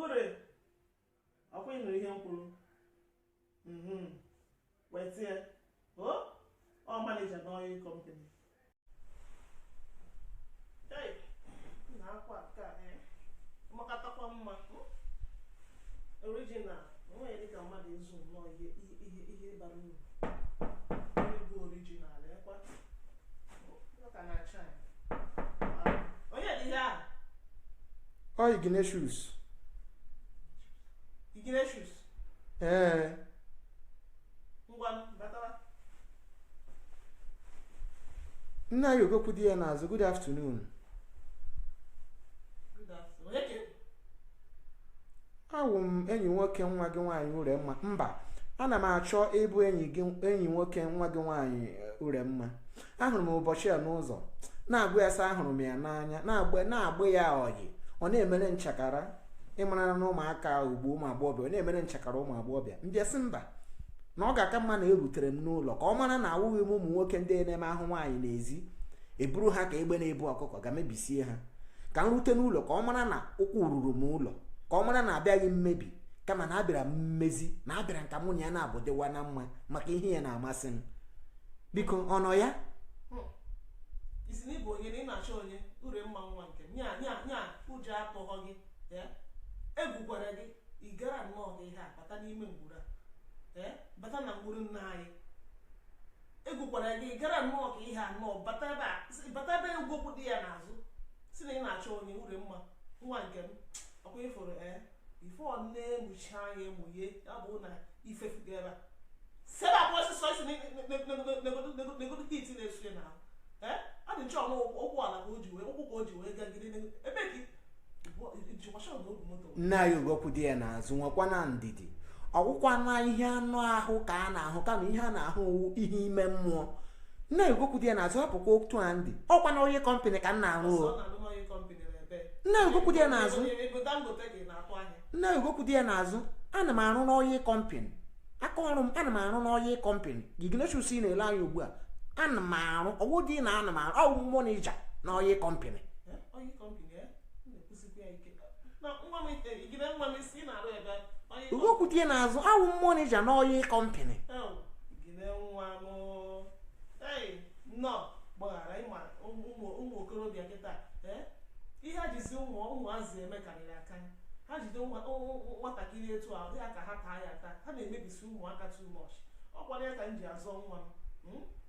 ure ọkwa ị nụrụ ihe m kwuru mhm. wetie o ọ manija na oil company na akwa ka eh, makatakwa mma hmm? original o nweghị dịka mmadụ ịzụ nnọọ ihe bara uru ọ ignatius ignatius ee nna ya ogokwu di ya n'azụ good afternoon awụ m enyi nwoke nwa gị nwaanyị uremma mba ana m achọ ịbụ enyi nwoke nwa gị nwaanyị eh, uremma ahụrụ m ụbọchị a n'ụzọ na-agwa ya sị ahụrụ m ya n'anya na-agba ya ọyị ọ na-emere nchakara ị mara na ụmụaka ugbu a ụmụ agbọghọbịa ọ na-emere nchakara ụmụ agbọghọbịa m bịa sị mba na ọ ga-aka mma na erutere m n'ụlọ ka ọ mara na awụghị m ụmụ nwoke ndị na-eme ahụ nwaanyị n'ezi eburu ha ka egbe na-ebu ọkụkọ ga mebisie ha ka m rute n'ụlọ ka ọ mara na ụkwụ ruru m ụlọ ka ọ mara na abịaghị m mmebi kama na abịara m mmezi na abịara m ka mụ na ya na-abụ dịwa na mma maka ihe ya na-amasị m biko ọ nọ ya ị sị na ị bụ onye na ị na-achọ onye uremma nwa nke m nya nya nya ụjọ atụghọ gị egwukwara gị ị gara nnọọ gị ihe a bata n'ime ngwuru a bata na ngwuru nna anyị egwukwara gị gara nnọọ ka ihe anọ bata ebe a sị- bata ebe ogokwu dị ya n'azụ sị na ị na-achọ onye uremma nwa nke m ọkwa ifuru ee ife ọ na-emuchi anya emughe ya bụ na ifefugo ebe a si ebe a pụ ọsịsọ isi negodo heat na-esu ya n'ahụ ee ọ dị nchọ na ụkwụ ala ka o ji wee ụkwụ ka o ji wee gagide ebe ka nne anyị ogokwu dị ya n'azụ nwekwa na ndidi ọ wụkwa na ihe anụ ahụ ka a na-ahụ kama ihe a na-ahụ ihe ime mmụọ nne ya ogokwu dị ya n'azụ hapụkwa otu a m dị ọkwa na oil company ka m na-arụ o nne ya ogokwu dị ya n'azụ nne ya ogokwu dị ya n'azụ ana m arụ na oil company aka ọrụ m ana m arụ na oil company Ignatius na-ele anya ugbu a ana m arụ ọ wụ dị na ana m arụ awụ m manija na oil company ogokwu dị ya n'azụ awụ m manija na oil company ụmụ okorobịa kịta ihe a jizi ụmụazị eme karịrị akarị ha jide nwatakịrị etu a dị ka ha taa ya taa ha na-emebisi ụmụaka too much ọ kwara ya ka m ji azọ nwa m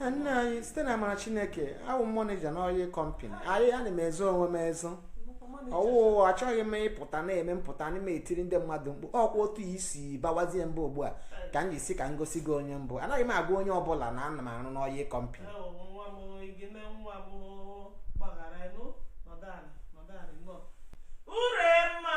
nna anyị site na amara chineke awụ m manager n'oil company anyị ana m ezo onwe m ezo ọ wụ achọghị m ịpụta na-eme mpụta na-etiri ndị mmadụ mkpu ọkwa otu isi bawazie mba ugbu a ka m ji sị ka m gosi gị onye m bụ anaghị m agwa onye ọbụla na ana m arụ n'oil company nwa m gị na nwa m gbaghara nụ nọdala nọdala nọ uremma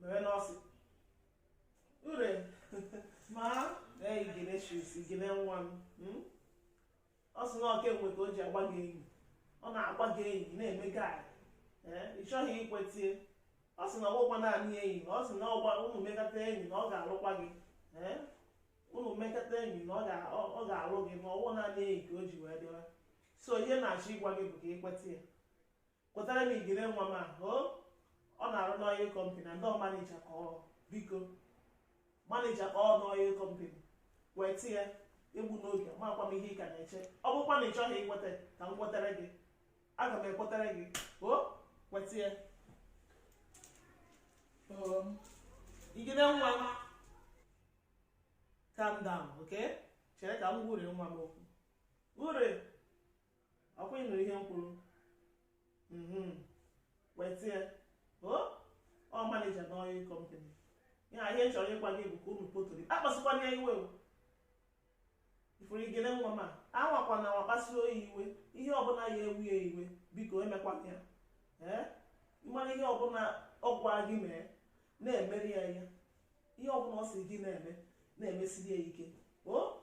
mere na ọ sị uremma igene shus igene nwa m hmm? ọ sị na ọ kemgbe ka o ji agba gị enyi ọ na-agba gị enyi na-eme gị eh, ị chọghị ikwetie ọ sị na ọ bụghịkwa naanị enyi na ọ sị na unu mekata enyi na ọ ga-alụkwa gị eh? unu mekata enyi na ọ ga-alụ gị ma ọ wụ naanị enyi ka o ji wee dịwa so ihe m na-achọ ịgwa gị bụ ka i kweta ya kwetara m igene nwa m ahụ ọ na-arụ n'oil company na ndị manager ka ọ biko manager ka ọ n'oil company kwetie egbuna oge amakwa m ihe ị ka na-eche ọ bụkwa na ị chọghị ikweta ka m kwetara gị aga m ekwetara gị kweta ya igene nwa m calm down okay chere ka m gwa ure nwa m okwu ure ọkwa ị nụ ihe m kwuru mhm. kwetie o ọ manager na oil company ya ihe m chọrọ ịgwa gị bụ ka unu potori akpasịkwana ya iwe ị fụrụ igene nwa m a anwakwana anwa kpasuo ya iwe ihe ọbụla ya-ewu ya iwe biko emekwana ya ee ị mara ihe ọbụla ọ gwa gị mee na-emere ya ya ihe ọbụla ọ sị gị na-eme na-emesiri ya ike o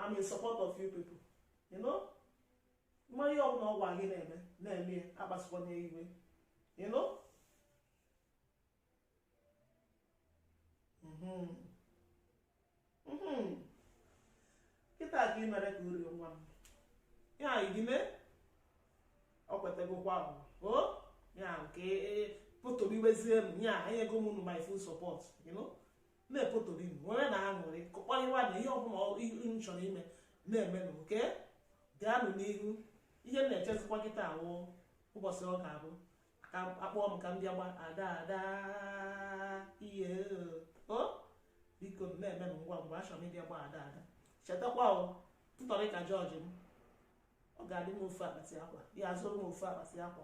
I'm in support of you people you know ị ma ihe ọbụla ọ gwa gị na-eme na-eme ya akpasịkwana ya iwe you know mhm. Mhm. kịta ka ị mere ka ure nwa m ya igene ọ kwetegokwa o ya nke e, e, potoriwezienụ ya enyego m unu my full support you know na-epotorinụ nwere na aṅụrị kporiwanụ ihe ọbụla unu chọrọ ime na-emenụ okay gaanụ n'ihu ihe m na-echezikwa kịta wụ ụbọchị ọ ga-abụ ka a kpọọ m ka m bịa gba ada ada ihe o biko na-eme m ngwa ngwa achọrọ m ịbịa gba ada ada chetakwa o intorica george m ọ ga-adị m ofu akpati akwa ya-azụrụ m ofu akpati akwa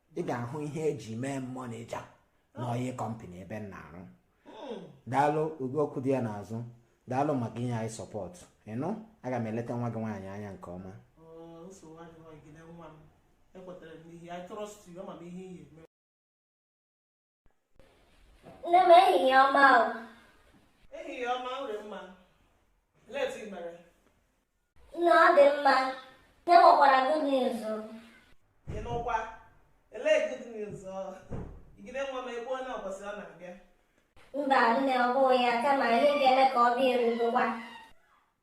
ị ga-ahụ ihe eji mee m manager na oil company ebe m na-arụ daalụ ugo ọkwụ di ya n'azụ daalụ maka inye anyị support ị nụ aga m eleta nwa gị nwaanyị anya nke ọma ekwetara m n'ihi I trust you ama m ihe ihe Nne m ehihie ọma o. Ehihie ọma Ure mma. Ele otu ị mere? Nne ọ dị mma. Nne nwekwara good news. Ị nụkwa? Elee good news ọ? Igine nwa m ekwuola ụbọchị ọ na-abịa. Mba nne ọ bụghị ya kama ihe ga-eme ka ọ bịa erugokwa.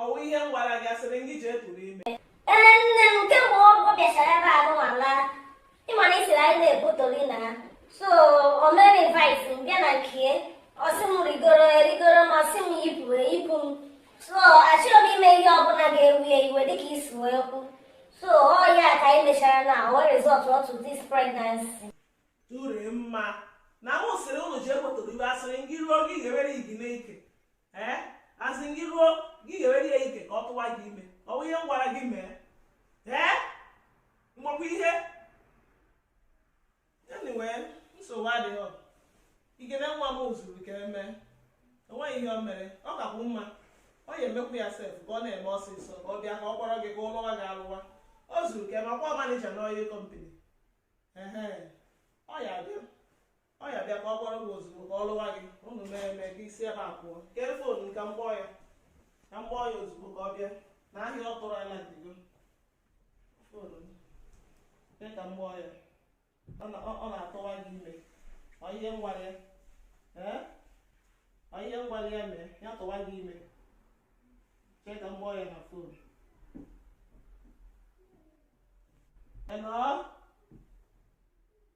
ọwụ ihe m gwara gị asịrị gị jee tụrụ ime Ee, nne m kemgbe ọ ọ bịachara ebe ahụnwa laa ị ma na ị sịrị anyị na-ebutori na ha so o mere invite m bịa na nke ya ọ sị m rigoro erigoro m ọ sị m yipụ eyipụ m so achọrọ m ime ihe ọbụla ga-ewu ya iwe dịka i si wee kwu so ọ ya ka anyị mechara na o wee result to this pregnancy Ure mma na mụ sịrị ụnụ ji ekwetụrụ iwe asịrị gị ruo gị ga-ewere Igine ike ee asị gị ruo gị ga-ewere ya ike ka ọ tụwa gị ime ọ bụ ihe m gwara gị mee ee mgbakwa ihe anyway nsogbu adịghị ọ Igine nwa m zuru ka emee enweghị ihe o mere ọ kakwu mma ọ ya emekwu ya sef ka ọ na-eme ọsịsọ ka ọ bịa ka ọ kpọrọ gị ka ọ lụwa gị alụwa o zuru ka eme ọkwa manager n'oil company ọ ya bịa ọ ya bịa ka ọ kpọrọ gị ozugbo ka ọ lụwa gị unu mee eme ka isi ebe a pụọ kee fon ka m kpọọ ya ka m kpọọ ya ozugbo ka ọ bịa na ahịa ọ tụrụ alandigo fon mee ka m kpọọ ya ọ na-atụwa gị ime ọ ihe m gwara ya ọ ihe m gwara ya mee ya tụwa gị ime chee ka m kpọọ ya na fon Hello?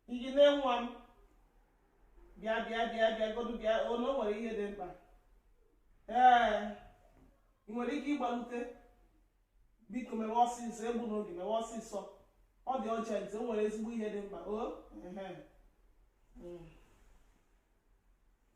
Igine nwa m bịa bịa bịa bịa godu bịa ụnọ o nwere ihe dị mkpa ee ị nwere ike ịgbalute biko mewe ọsịsọ egbuna oge mewe ọsịsọ ọ dị urgent o nwere ezigbo ihe dị mkpa o ehe. Mm.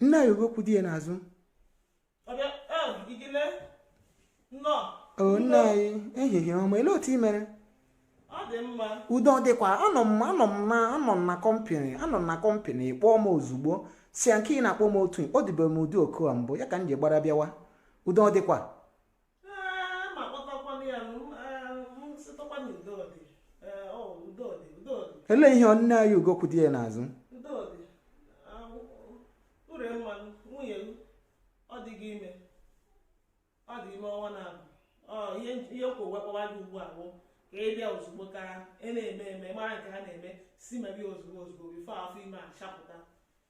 nne anyị ugokwu di ya n'azụ o nne anyị ehihie ọma ele otu ị mere udo dịkwa anọ m anọ m na anọ m na company anọ m na company ị kpọọ m ozugbo si ya nke ị na-akpọ m otu ị kpọdịbe m ụdị oku a mbụ ya ka m ji gbara bịawa udo dịkwa ele ihe o nne anyị ugokwu di ya n'azụ Ure mma nwunye gị ọ dị ime ihe kwụ wee kpọwa gị ugbu a bụ ka ị bịa ozugbo ka ị e na-eme eme mara nke ha na-eme si mebe ozugbo ozugbo before afọ ime achapụta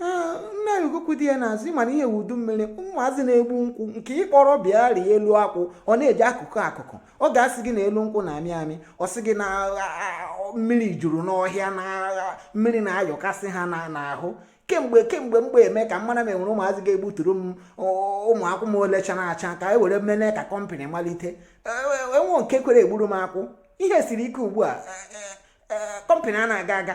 nna ya ugokwu di ya n'azụ ị ma na ihe wụ udu mmiri ụmụazị na-egbu nkwụ nke ị kpọrọ bịa rịa elu akwụ ọ na-eji akụkụ akụkụ ọ ga-asị gị na elu nkwụ na-amị amị ọ sị gị na mmiri juru n'ọhịa na mmiri na-ayọkasị ha n'ahụ kemgbe kemgbe mgbe eme ka m mara ma e nwere ụmụazị ga-egbuturu m ụmụ akwụ m ole chara acha ka e were mene ka kọmpanị malite e, e, enwe nke kwere egburu m akwụ ihe siri ike ugbu a kọmpanị a na-aga aga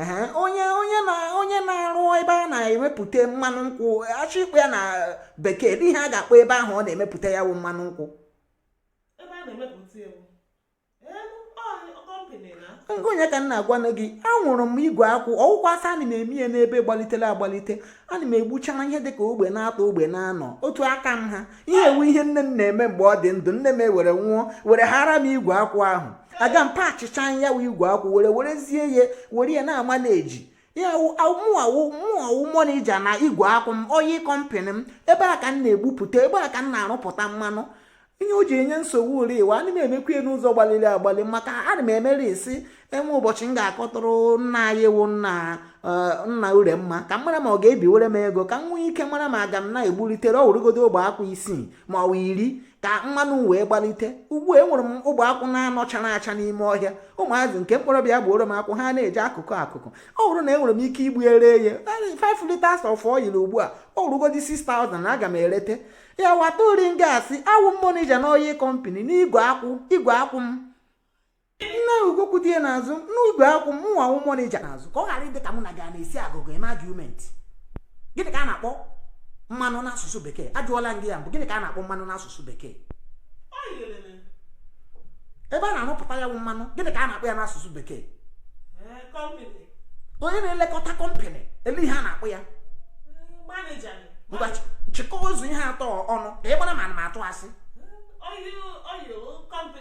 ehe onye onye na onye na-arụ ebe a na-emepụta mmanụ nkwụ a chọọ ịkpọ ya na bekee ele ihe a ga-akpọ ebe ahụ ọ na-emepụta ya wụ mmanụ nkwụ onye ka m na-agwanụ gị anwụrụ m igwe akwụ ọ wụkwa asị ana m eme ya n'ebe gbalitere agbalite ana m egbuchara ihe dịka ogbe na-atọ ogbe na-anọ otu aka m ha ihe a wụ ihe nne m na-eme mgbe ọ dị ndụ nne m ewere nwụọ were hara m igwe akwụ ahụ aga m pachịcha ya wụ igwe akwụ were werezie ya were ya na-ama na-eji ya mụ awụ mụ awụ monija na igwe akwụ m oyi kọmpanị m ebe a ka m na-egbupụta ebe a ka m na-arụpụta mmanụ ihe o ji enye nsogbu uri iwe ana m emekwa ya n'ụzọ gbaliri agbali maka ana m emere isi enwe ụbọchị m ga-akọtụrụ nna anyị wụ nna eh, nna Uremma ka m mara ma ọ ga-ebiwere m ego ka m nwee ike mara ma aga m na-egbulitere ọ wụrụgodu ogbe akwụ isii ma ọ iri ka mmanụ wee gbalite ugbu a enwere m ogbe akwụ na-anọ chara acha n'ime ọhịa ụmụazị nke m kpọrọ bịa gbuoro m akwụ ha na-eji akụkụ akụkụ ọ bụrụ na enwere m ike igbu ere ya 5 liters of oil ugbu a ọ wụrụgodi 6000 aga m erete ya wata ori gasị awụ m monija n'oyi kọmpani n'igwe akwụ igwe akwụ m nna ugokwu di ya n'azụ n'ugbo akwụ mụnwa wụ mọnịja n'azụ ka ọ ghara ịdị ka mụ na gị na-esi agụgụ eme argument gịnị ka a na-akpọ mmanụ n'asụsụ bekee ajụọla m gị ya mbụ gịnị ka a na-akpọ mmanụ n'asụsụ bekee ebe a na-arụpụta ya wụ mmanụ gịnị ka a na-akpọ ya n'asụsụ bekee eh, onye na-elekọta kọmpanị ele ihe a na-akpọ ya eh, ngwa chịkọọ ụzọ ihe atọ ọnụ ka ị mara ma ana m atụ asị eh,